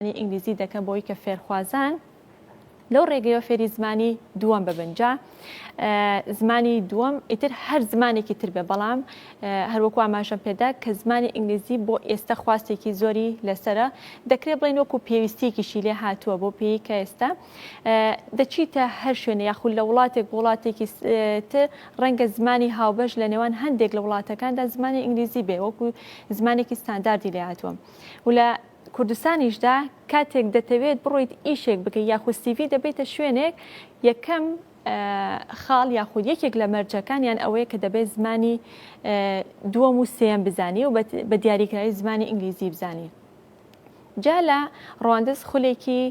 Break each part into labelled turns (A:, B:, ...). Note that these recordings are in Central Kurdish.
A: زمانی ئینگلیزی دەکەن بۆی کە فێرخوازان لەو ڕێگەیەوە فێری زمانی دووەم ببنجا زمانی دووەم ئیتر هەر زمانێکی تر بێ بەڵام هەروەکو ئاماژەم پێدا کە زمانی ئینگلیزی بۆ ئێستا خواستێکی زۆری لەسرە دەکرێت بڵێن وەکو پێویستیەکیشی لێ هاتووە بۆ پێی کە ئێستا دەچیتە هەر شوێنە یاخود لە وڵاتێک وڵاتێکی تر ڕەنگە زمانی هاوبەش لە نێوان هەندێک لە وڵاتەکاندا زمانی ئینگلیزی بێ وەکو زمانێکی ستانداردی لێ هاتووە و لە کوردستانیشدا کاتێک دەتەوێت بڕۆیت ئیشێک بکەیت یاخود سیڤی دەبەیتە شوێنێک یەکەم خاڵ یاخود یەکێک لە مەرجەکانیان ئەوەیە کە دەبێت زمانی دووەم و سێم بزانی و بە دیاریکراوی زمانی ئینگلیزی بزانی جا لە ڕواندز خولێکی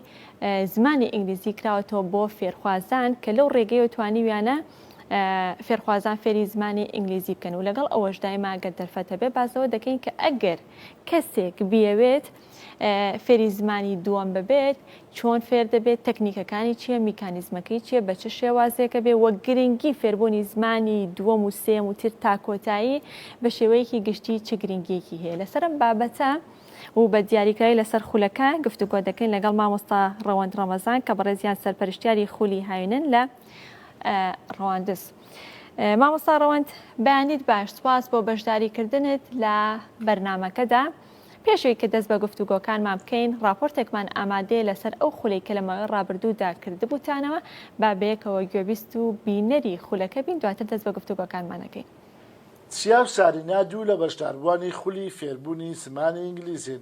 A: زمانی ئینگلیزی کراوەتەوە بۆ فێرخوازان کە لەو ڕێگەیەوە توانیویانە فێرخوازان فێری زمانی ئینگلیزی بکەن و لەگەڵ ئەوەشدای ماگەر دەرفەتە بێ بازەوە دەکەین کە ئەگەر کەسێک بیەوێت فێری زمانی دووەم ببێت چۆن فێر دەبێت تەکنیکەکانی چییە میکانیزمەکەی چییە بە چ شێوازێکە بێ وە گرنگی فێربوونی زمانی دووەم و سێم و تر تا کۆتایی بە شێوەیەکی گشتی چ گرنگیەکی هەیە لەسەرم بابەتە و بە دیاریکراوی لەسەر خولەکە گفتوگۆ دەکەین لەگەڵ مامۆستا ڕەوەند ڕەمەزان کە بەڕێزیان سەرپەرشتیاری خولی هاوینن لە ڕەواندز. مامۆستا ڕەوەند بەیانیت باش سپاس بۆ بەشداریکردنت لە بەرنمەکەدا پێشوی کە دەست بە گفتوگۆکانمان بکەین راپۆرتێکمان ئامادەیە لەسەر ئەو خولەی کە لە ماوەی ڕابردوودا کردبووتانەوە با بەیەکەوە گوێبیست و بینەری خولەکە بین دواتر دەست بە گفتوگۆکانمانەکەین.
B: چیا و سارینا دوو لە بەشداربووانی خولی فێربوونی زمانی ئینگلیزین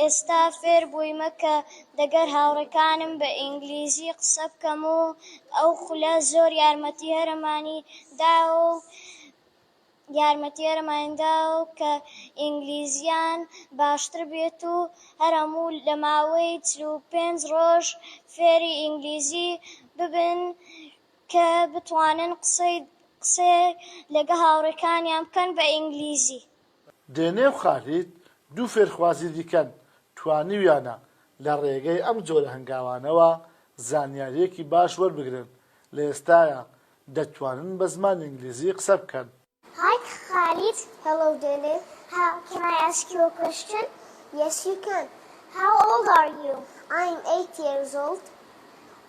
C: ئێستا فێربوویمە کە دەگەر هاوڕێکانم بە ئینگلیزی قسە بکەم و ئەو خولە زۆر یارمەتی هەرەمانی داوە و یارمەتی هەرەمانی داوە کە ئینگلیزیان باشتر بێت و هەر هەموو لە ماوەی چل و پێنج ڕۆژ فێری ئینگلیزی ببن کە بتوانن قسەی قسەی لەگە هاوڕێکانیان بکەن بە ئینگلیزی. دێنێ
B: و خالید دوو فێرخوازی دیکەن، توانیویانە لە ڕێگەی ئەم جۆرە هەنگاوانەوە زانیارییەکی باش وەربگرن، لە ئێستایا دەتوانن بە زمانی ئینگلیزی قسە بکەن. Hi
C: Khalid Hello Dene How can I ask you a question? Yes you can How old are you? I'm eight years old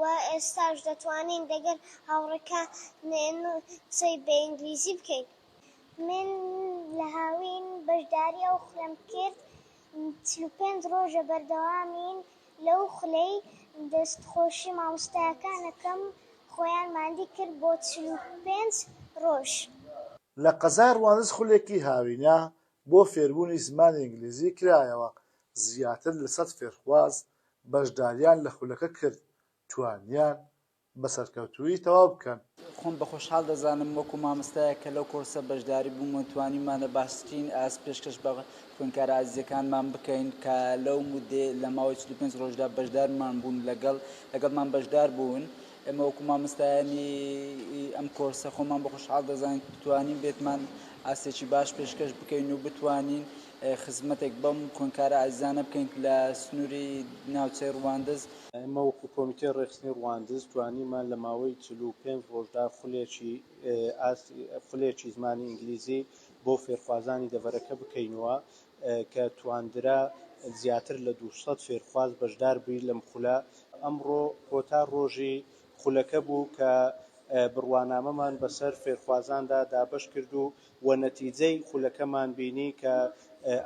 C: و ئێستاش دەتوانین دەگەل هاوڕێکا نێن و قسەی بە ئینگلیزی بکەین. من لە هاوین بەشداری ئەو خولەم کرد چل و پێنج ڕۆژە بەردەوامین لەو خولەی دەست خۆشی مامۆستایەکان ئەکەم خۆیان ماندی کرد بۆ چل و پێنج ڕۆژ. لە
B: قەزای ڕواندز خولێکی هاوینە بۆ فێربوونی زمانی ئینگلیزی کرایەوە زیاتر لە سەد فێرخواز بەشداریان لە خولەکە کرد توانیان بە سەرکەوتوویی تەواو بکەن. خۆم بە خۆشحاڵ
D: دەزانم وەکو مامۆستایەک کە لەو کۆڕسە بەشداری بووم و توانیمانە باشترین ئاست پێشکەش بە خوێندکارە ئازیزەکانمان بکەین کە لەو موددەی لە ماوەی چل و پێنج ڕۆژدا بەشدارمان بوون لەگەڵ لەگەڵمان بەشدار بوون ئێمە وەکو مامۆستایانی ئەم کۆرسە خۆمان بە خۆشحاڵ دەزانین توانیبێتمان ئاستێکی باش پێشکەش بکەین و بتوانین خزمەتێک بەم خوێندکارە ئازیزانە بکەین لە سنووری ناوچەی ڕواندز. ئێمە وەکو
E: کۆمیتەی ڕێکخستنی ڕواندز توانیمان لە ماوەی چل و پێنج ڕۆژدا خولێکی ئاستی خولێکی زمانی ئینگلیزی بۆ فێرخوازانی دەڤەرەکە بکەینەوە کە تواندرا زیاتر لە دوو سەد فێرخواز بەشدار بی لەم خولە. ئەمڕۆ کۆتا ڕۆژی خولەکە بوو کە بڕوانامەمان بەسەر فێرخوازاندا دابەش کرد و وە نەتیجەی خولەکەمان بینی کە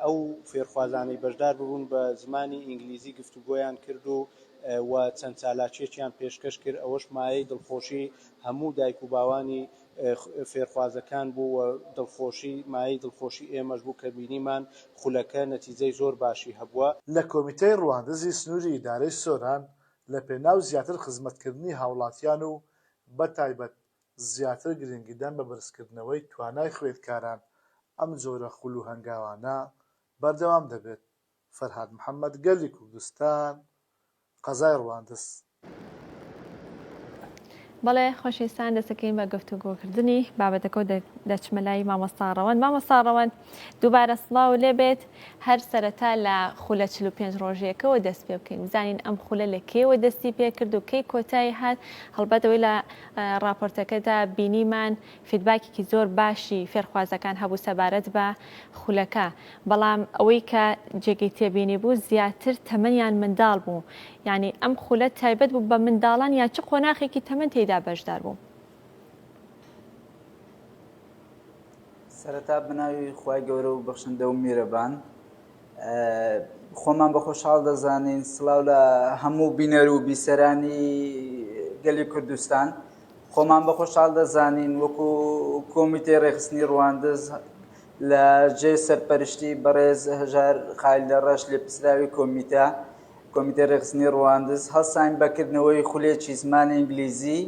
E: ئەو فێرخوازانەی بەشدار ببوون بە زمانی ئینگلیزی گفتوگۆیان کرد و وە چەند چالاکیەکیان پێشکەش کرد ئەوەش مایەی دڵخۆشی هەموو دایک و باوانی فێرخوازەکان بوو وە دڵخۆشی مایەی دڵخۆشی ئێمەش بوو کە بینیمان خولەکە نەتیجەی زۆر باشی هەبووە. لە کۆمیتەی
B: ڕواندزی سنوری ئیدارەی سۆران لە پێناو زیاتر خزمەتکردنی هاوڵاتیان و بە تایبەت زیاتر گرنگیدان بە بەرزکردنەوەی توانای خوێندکاران، ئەم جۆرە خول و هەنگاوانە بەردەوام دەبێت. فەرهاد محەمەد گەلی کوردستان، قەزای ڕواندز.
A: بەڵێ خۆشەویستان دەستەکەوین بە گفتوگۆکردنی بابەتەکەو دەچمە لای مامۆستا ڕەوەند مامۆستا ڕەوەند. دووبارە سڵاو لێبێت، هەر سەرەتا لە خولە چل و پێنج ڕۆژیەکەوە دەست پێ بکەین بزانین ئەم خولە لە کێوە دەستی پێکرد و کەی کۆتایی هات هەڵبەتەوەی لە راپۆرتەکەدا بینیمان فیدباکێکی زۆر باشی فێرخوازەکان هەبوو سەبارەت بە خولەکە بەڵام ئەوەی کە جێگەی تێبینی بوو زیاتر تەمەنیان منداڵ بوو یعنی ئەم خولە تایبەت بوو بە منداڵان یا چ قۆناخێکی تەمەن تێدا بەشدار بوو
D: سەرەتا بەناوی خی گەورە و بەخشندە و میرەبان خۆمان بە خۆشحاڵ دەزانین سلااو لە هەموو بینەر و بیسەرانی گەلی کوردستان خۆمان بە خۆشحاڵ دەزانین وەکو کۆمیتەی ڕێخستنی ڕواندز لە جێ سەرپەرشتی بەڕێز هەژار خال لە ڕەش لێ پسراوی کۆمیتە کۆمیتە ڕێخستنی ڕواندز هەڵساین بەکردنەوەی خولێکی زمانی ئینگلیزی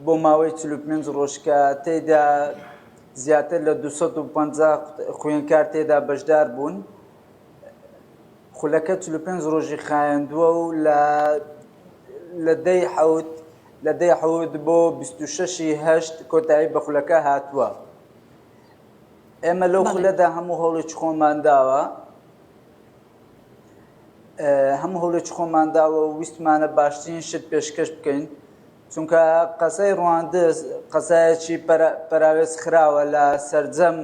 D: بۆ ماوەی چل و پێنج ڕۆژ کە تێیدا زیاتر لە دوو سەد و پەنجا خوێندکار تێدا بەشدار بوون خولەکە چل و پێنج ڕۆژی خایەندووە و لە لە دەی حەوت لە دەی حەوت بۆ بیست و شەشی هەشت کۆتایی بە خولەکە هاتووە ئێمە لەو خولەدا هەموو هەوڵێکی خۆمان داوە هەموو هەولێکی خۆمان داوە و ویستمانە باشترین شت پێشکەش بکەین چونکە قەزای ڕواندز قەزایەکی پەراوێز خراوە لە سەرجەم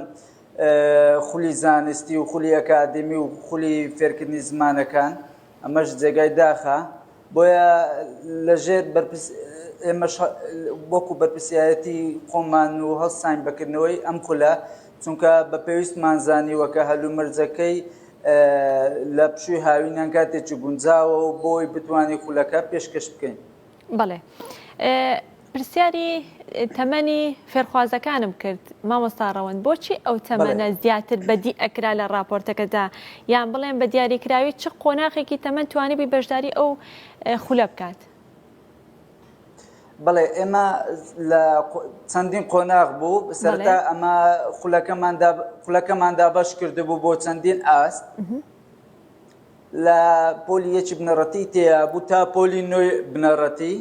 D: خولی زانستی و خولی ئەکادمی و خولی فێرکردنی زمانەکان ئەمەش جێگای داخە بۆیە لە ژێر بەرپرس ئێمەش وەکو بەرپرسیارەتی خۆمان و هەڵساین بەکردنەوەی ئەم خولە چونکە بە پێویستمان زانیوە کە هەلومەرجەکەی لە پشووی هاوینان کاتێکی گونجاوە و بۆی بتوانین خولەکە پێشکەش بکەین بەڵێ
A: پرسیاری تەمەنی فێرخوازەکانم کرد مامۆستا ڕەوەند بۆچی ئەو تەمەنە زیاتر بەدی ئەکرا لە راپۆرتەکەدا یان بڵێن بە دیاریکراوی چ قۆناخێکی تەمەەن توانی بووی بەشداری ئەو خولە بکات
D: بڵێ ئێمە لە چەندین قۆناغ بوو سەرتا ئەمە خولەکەماندا بەش کردبوو بۆ چەندین ئاست لە پۆلی یەکی بنەڕەتی تێ بوو تا پۆلی نوێ بنەڕەتی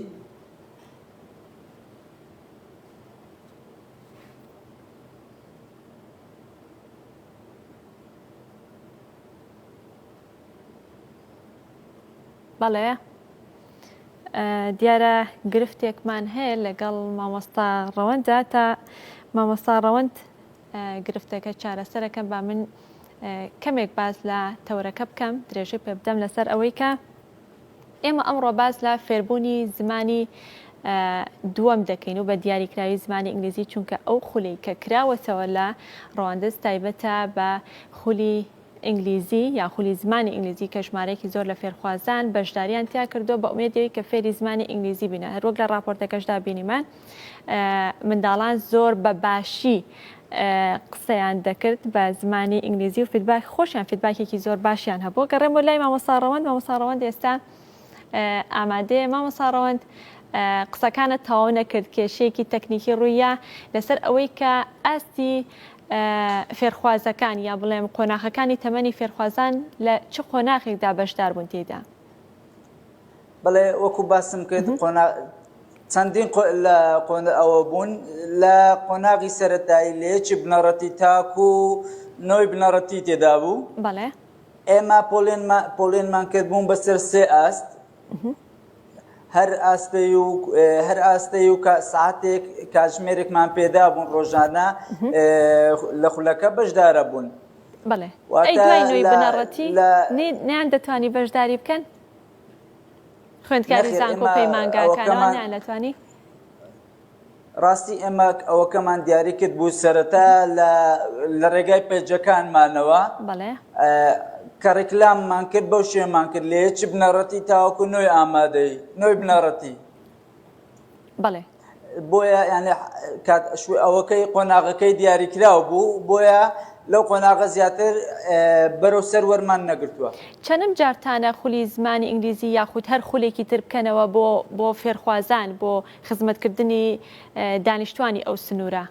A: بەڵێ دیارە گرفتێکمان هەیە لەگەڵ مامۆستا ڕەوەندا تا مامۆستا ڕەوەند گرفتەکە چارەسەرەکەم با من کەمێک باز لە تەورەکە بکەم درێژەی پێ بدەم لەسەر ئەوەی کە ئێمە ئەمڕۆ باس لە فێربوونی زمانی دووەم دەکەین و بە دیاریکراوی زمانی ئینگلیزی چونکە ئەو خولی کە کراوەتەوە لە ڕواندز تایبەتە بە خولی ئینگلیزی یا خولی زمانی ئینگلیزی کە ژمارەیەکی زۆر لە فێرخوازان بەشداریان تیا کردو بە ئومێدەوەی کە فێری زمانی ئینگلیزی بینە هەروەک لە ڕاپۆرتەکەشدا بینیمان منداڵان زۆر بە باشی قسەیان دەکرد بە زمانی ئینگلیزی و فیدباک خۆشیان فیدباکێکی زۆر باشیان هەبوو گەڕێم بۆ لای مامەساڕەوەند مامەساڕەوەند ئێستا ئامادەیە مامەساڕەوەند قسەکانە تەواو نەکرد کێشەیەکی تەکنیکی ڕوویە لەسەر ئەوەی کە ئاستی فێرخوازەکان یا بڵێم قۆناخەکانی تەمەنی فێرخوازان لە چ قۆناخێکدا بەشدار بوون تێدا
D: بەڵێ وەکو باسم کرد قۆنا چەندین لە قۆن ئەوە بوون لە قۆناغی سەرەتایی لەیەکی بنەڕەتی تاکو نەوەی بنەڕەتی تێدا بوو بەڵێ
A: ئێمە
D: پۆلێنمان کرد بوون بەسەر سێ ئاست هەر ئاستەی و هەر ئاستەی و ساعتێک کاتژمێرێکمان پێدا بوون ڕۆژانە لە خولەکە بەشدارە بوون بەڵێ
A: نەیان دەتوانی بەشداری بکەن خوێندکاری زانکۆ پەیمانگاکانەوە نیان لەتوانی؟
D: ڕاستی ئێمە ئەوەکەمان دیاری کرد بوو سەرەتا لە ڕێگای پێجەکانمانەوە کە ڕێکلاممان کرد بەو شێمان کرد لێ چ بنەڕەتی تاوەکو نوێی ئامادەی نوێی بنەڕەتی
A: بەڵێ. بۆیە
D: یانێ کات شوێ ئەوەکەی قۆناغەکەی دیاریکراو بوو بۆیە لەو قۆناغە زیاتر بەرەو سەر وەرمان نەگرتووە چەنم جارتانە
A: خولی زمانی ئینگلیزی یاخود هەر خولێکی تر بکەنەوە بۆ بۆ فێرخوازان بۆ خزمەتکردنی دانیشتوانی ئەو سنوورە؟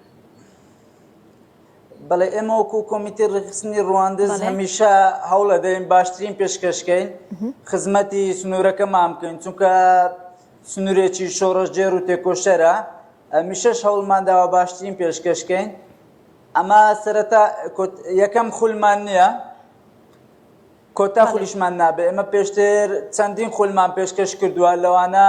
D: بەڵێ ئێمە وەکو کۆمیتی ڕێکخستنی ڕواندز هەمیشە هەوڵەدەین باشترین پێشکەشکەین خزمەتی سنوورەکەمان بکەین چونکە سنوورێکی شۆڕەژێر و تێکۆشەرە میشەش هەوڵمانداوە باشترین پێشکەشکەین ئەمە سەرەتا یەکەم خولمان نییە کۆتا خولیشمان نابێ ئەمە پێشتر چەندین خولمان پێشکەش کردووە لەوانە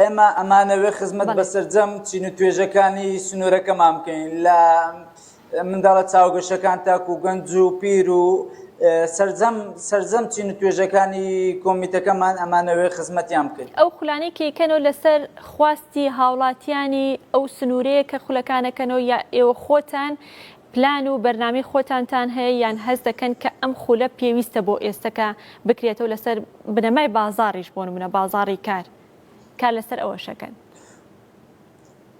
D: ئێمە ئەمانەوێ خزمەت بە سەرجەم چین و توێژەکانی سنوورەکەمان بکەین لە منداڵە چاوگەشەکان تاکو گەنج و پیر و سرجەم سرجەم چین و توێژەکانی کۆمیتەکەمان ئەمانەوێ خزمەتیان بکەین ئەو خولانەی کەیکەنەوە
A: لەسەر خواستی هاوڵاتیانی ئەو سنوورەیە کە خولەکانەکەنەوە یا ئێوە خۆتان پلان و بەرنامەی خۆتانتان هەیە یان هەست دەکەن کە ئەم خولە پێویستە بۆ ئێستە کە بکرێتەوە لەسەر بنەمای بازاڕیش بۆ نمونە بازاڕی کار کار لەسەر ئەوەشەکەن؟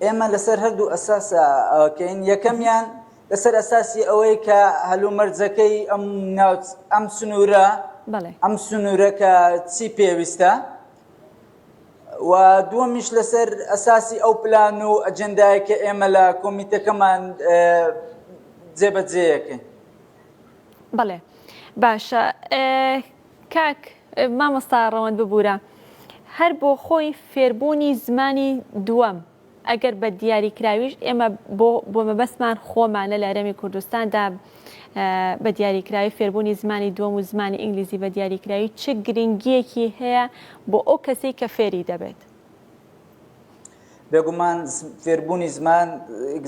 D: ئێمە لەسەر هەردوو ئەساس ئەوەکەین یەکەمیان لەسەر ئەساسی ئەوەی کە هەلومەرجەکەی ئەم ناوچ ئەم سنوورە بەڵێ ئەم سنوورە کە چی پێویستە و دووەمیش لەسەر ئەساسی ئەو پلان و ئەجندای کە ئێمە لە کۆمیتەکەمان جێبەجێەکەین
A: بەڵێ باشە کاک مامۆستا ڕەوەند ببوورە هەر بۆ خۆی فێربوونی زمانی دووەم ئەگەر بە دیاریکراویش ئێمە بۆ بۆ مەبەستمان خۆمانە لە هەرێمی کوردستاندا بە دیاریکراوی فێربوونی زمانی دووەم و زمانی ئینگلیزی بە دیاریکراوی چ گرنگیەکی هەیە بۆ ئەو کەسی کە فێری دەبێت؟
D: بێگومان فێربوونی زمان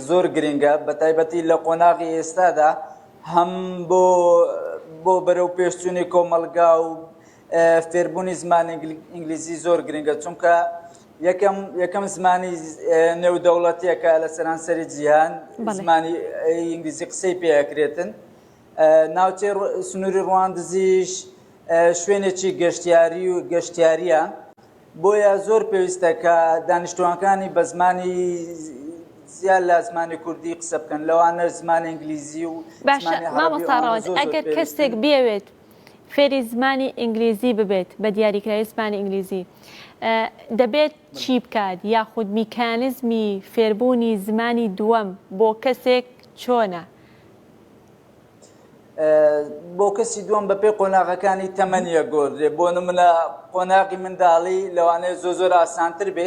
D: زۆر گرنگە بە تایبەتی لە قۆناغی ئێستادا هەم بۆ بۆ بەرەو پێشچوونی کۆمەلگا و فێربوونی زمانی ئینگلیزی زۆر گرنگە چونکە یەکەم یەکەم زمانی نێودەوڵەتیەکە لە سەرانسەری جیهان زمانی ئینگلیزی قسەی پێکرێتن ناوچەی سنووری ڕواندزیش شوێنێکی گەشتیاری و گەشتیاریە بۆیە زۆر پێویستە کە دانیشتوانەکانی بە زمانی زیاد لە زمانی کوردی قسە بکەن لەوانە زمانی ئینگلیزی و باشە مامەساڕاوەت
A: ئەگەر کەسێک بێوێت فێری زمانی ئینگلیزی ببێت بە دیاریکراوی زمانی ئینگلیزی دەبێت چی بکات یاخود میکانزمی فێربوونی زمانی دووەم بۆ کەسێک چۆنە؟
D: بۆ کەسی دووەم بە پێی قۆناغەکانی تەمەنیە گۆدرێ بۆ نمونە قۆناغی منداڵی لەوانەیە زۆ زۆر ئاسانتر بێ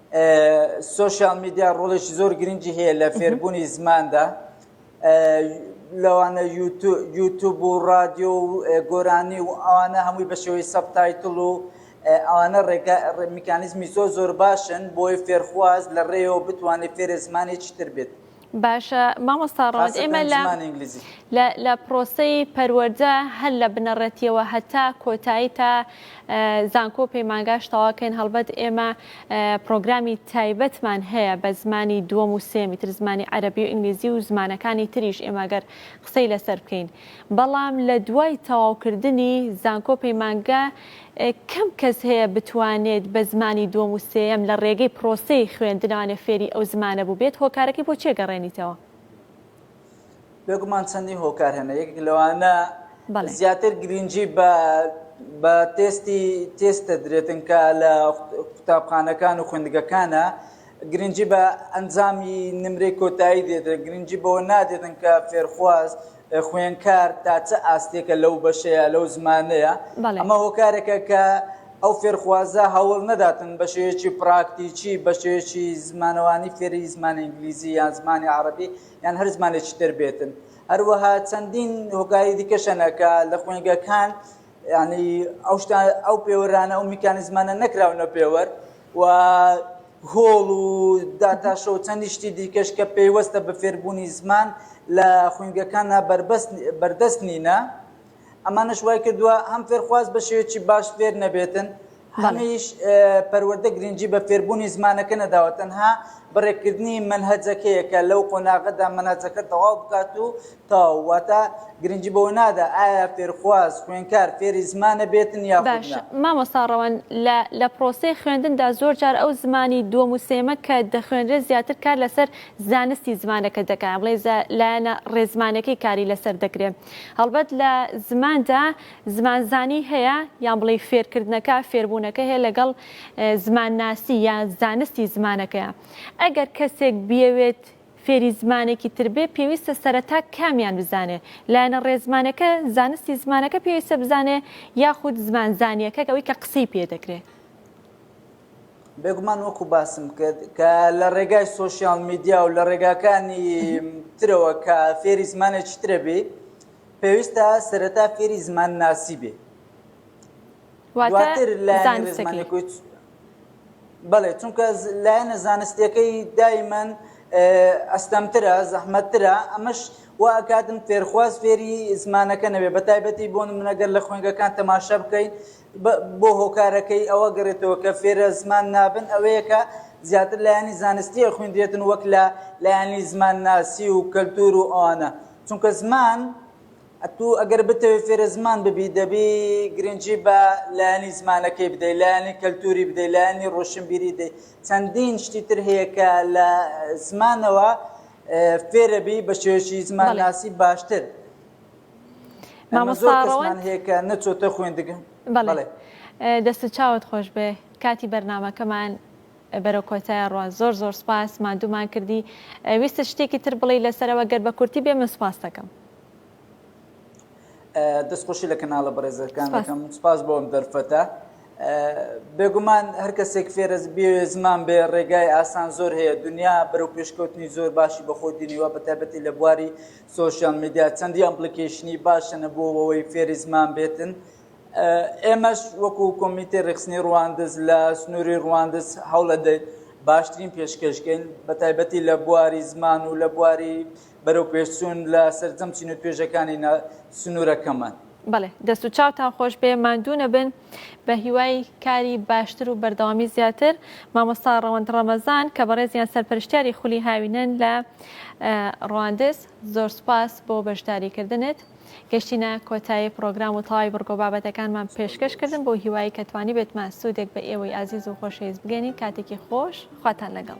D: سۆشیال میدیا ڕۆڵێکی زۆر گرنگی هەیە لە فێربوونی زماندا لەوانە یوتوب و رادیۆ و گۆرانی و ئەوانە هەمووی بە شێوەی سەبتایتل و ئەوانە ڕێگە میکانیزمی زۆر زۆر باشن بۆی فێرخواز لە ڕێەوە بتوانێت فێرە زمانێکی تر بێت باشە
A: مامۆستا ڕەوەند ئێمە لە لە پرۆسەی پەروەەردە هەر لە بنەڕەتیەوە هەتا کۆتایی تا زانکۆ پەیمانگاش تەواکەین هەڵبەت ئێمە پرۆگرامی تایبەتمان هەیە بە زمانی دووەم و سێمی تر زمانی عەربی و ئینگلیزی و زمانەکانی تریش ئێمەگەر قسەی لەسەر بکەین بەڵام لە دوای تەواوکردنی زانکۆ پەیمانگا کەم کەس هەیە بتوانێت بە زمانی دووەم و سێیەم لە ڕێگەی پرۆسەی خوێندنەوانە فێری ئەو زمانە بووبێت، هۆکارەکەی بۆ چیە گەڕێنیتەوە؟ بێگومان
D: چەندین هۆکار هەن یەکێک لەوانە زیاتر گرینگی بە تێستی تێست دەدرێتن کە لە قوتابخانەکان و خوێندگەکانە، گرنگی بە ئەنجامی نمرەی کۆتایی دێتن، گرنگی بەوە نادێتن کە فێرخواز، خوێنکار تا چ ئاستێکە لەو بەشەیە، لەو زمانەیە. بەڵێ. ئەمە هۆکارێکە کە ئەو فێرخوازە هەوڵ نەداتن بە شێوەیەکی پراکتیکی، بە شێوەیەکی زمانەوانی فێری زمانی ئینگلیزی یان زمانی عەڕەبی یان هەر زمانێکی تر بێتن. هەروەها چەندین هۆکاری دیکەش هەنە کە لە خوێندگەکان یانی ئەو شتان ئەو پێوەرانە ئەو میکانیزمانە نەکراونە پێوەر و هۆڵ و داتاشە و چەندی شتی دیکەش کە پێیوەستە بە فێربوونی زمان لە خوینگەکانە بەردەست نینە ئەمانش وای کردووە هەم فێرخواز بە شێوێکی باش فێر نەبێتن هەمیش پەروەردە گرنگی بە فێربوونی زمانەکە نەداوە، تەنها بەڕێکردنی مەنهەجەکەیە کە لەو قۆناغەدا مەنهەجەکە تەواو بکات و تەواو، واتە گرنگی بەوە نادا ئایا فێرخواز، خوێنکار، فێری زمانە بێتن یاخود نا. باشە مامۆستا
A: ڕەوەند، لە لە پرۆسەی خوێندندا زۆر جار ئەو زمانی دووەم و سێیەمە کە دەخوێنرێت زیاتر کار لەسەر زانستی زمانەکە دەکات، یان بڵێین لایەنە ڕێزمانەکەی کاری لەسەر دەکرێت، هەڵبەت لە زماندا زمانزانی هەیە، یان بڵێی فێرکردنەکە، فێربوونەکە هەیە لەگەڵ زمانناسی یا زانستی زمانەکەیە. ئەگەر کەسێک بیەوێت فێری زمانێکی تر بێ، پێویستە سەرەتا کامیان بزانێ؟ لایەنە ڕێزمانەکە، زانستی زمانەکە پێویستە بزانێ یاخود زمانزانیەکە ئەوی کە قسەی پێ دەکرێ؟ بێگومان
D: وەکو باسم کرد کە لە ڕێگای سۆشیال میدیا و لە ڕێگاکانی ترەوە کە فێری زمانێکی ترە بی، پێویستە سەرەتا فێری زمان ناسی بێ دواتر لایەنی زمانی کوچ بەڵێ چونکە لایەنە زانستیەکەی دایمەن ئەستەمترە زەحمەتترە ئەمەش وا ئەکاتن فێرخواز فێری زمانەکە نەبێ بە تایبەتی بۆ منەگەر لە خوێنگەکان تەماشا بکەین بۆ هۆکارەکەی ئەوە گەڕێتەوە کە فێرە زمان نابن ئەوەیە کە زیاتر لایەنی زانستیە خوێندرێتن وەک لە لایەنی زمان ناسی و کەلتور و ئەوانە چونکە زمان ئەتو ئەگەر بتەوێت فێرە زمان ببی دەبی گرنگجی بە لایەنی زمانەکەی بدەی لایەنی کەلتوری بدەی لایەنی ڕۆشنبیری دەی چەندین شتی تر هەیە کە لە زمانەوە فێرەبی بە شێوەشی زمان ناسی باشتر.
A: دەستت چاوت خۆش بێ کاتی بەرنمەکەمان بەرە کۆتای ڕوە زۆر زۆر سپاس مادومان کردی ویست شتێکی تر بڵی لەسەرەوە گەر بە کورتی بێ من سپاس دەکەم
D: دەستخۆشی لە کەناڵە بەڕێزەکان دەکەم سپاس بۆم دەرفەتە بێگومان هەر کەسێک فێرە بێ زمان بێ ڕێگای ئاسان زۆر هەیە دنیا بەرەو پێشکەوتنی زۆر باشی بەخۆ دینیوە بە تایبەتی لە بواری سۆشیال میدیا چەندی ئەپلیکەیشنی باشن بۆ ئەوەی فێری زمان بێتن ئێمەش وەکو کۆمیتی ڕێکخستنی ڕواندز لە سنووری ڕواندز هەوڵە دەیت باشترین پێشکەشکەین بە تایبەتی لە بواری زمان و لە بواری بەرەو پێشچوون لە سەرجەم چین و توێژەکانی سنوورەکەمان بەڵێ دەست
A: و چاوتان خۆش بێ ماندوو نەبن. بە هیوای کاری باشتر و بەردەوامی زیاتر مامۆستا ڕەوەند ڕەمەزان کە بەڕێزیان سەرپەرشتیاری خولی هاوینەن لە ڕواندز زۆر سپاس بۆ بەشداریکردنت گەشتینە کۆتایی پرۆگرام و تەواوی بڕگۆ بابەتەکانمان پێشکەش کردن بۆ هیوایی کە توانی بێتمان سوودێک بە ئێوەی ئازیز و خۆشەویست بگەێنین کاتێکی خۆش خواتان لەگەڵ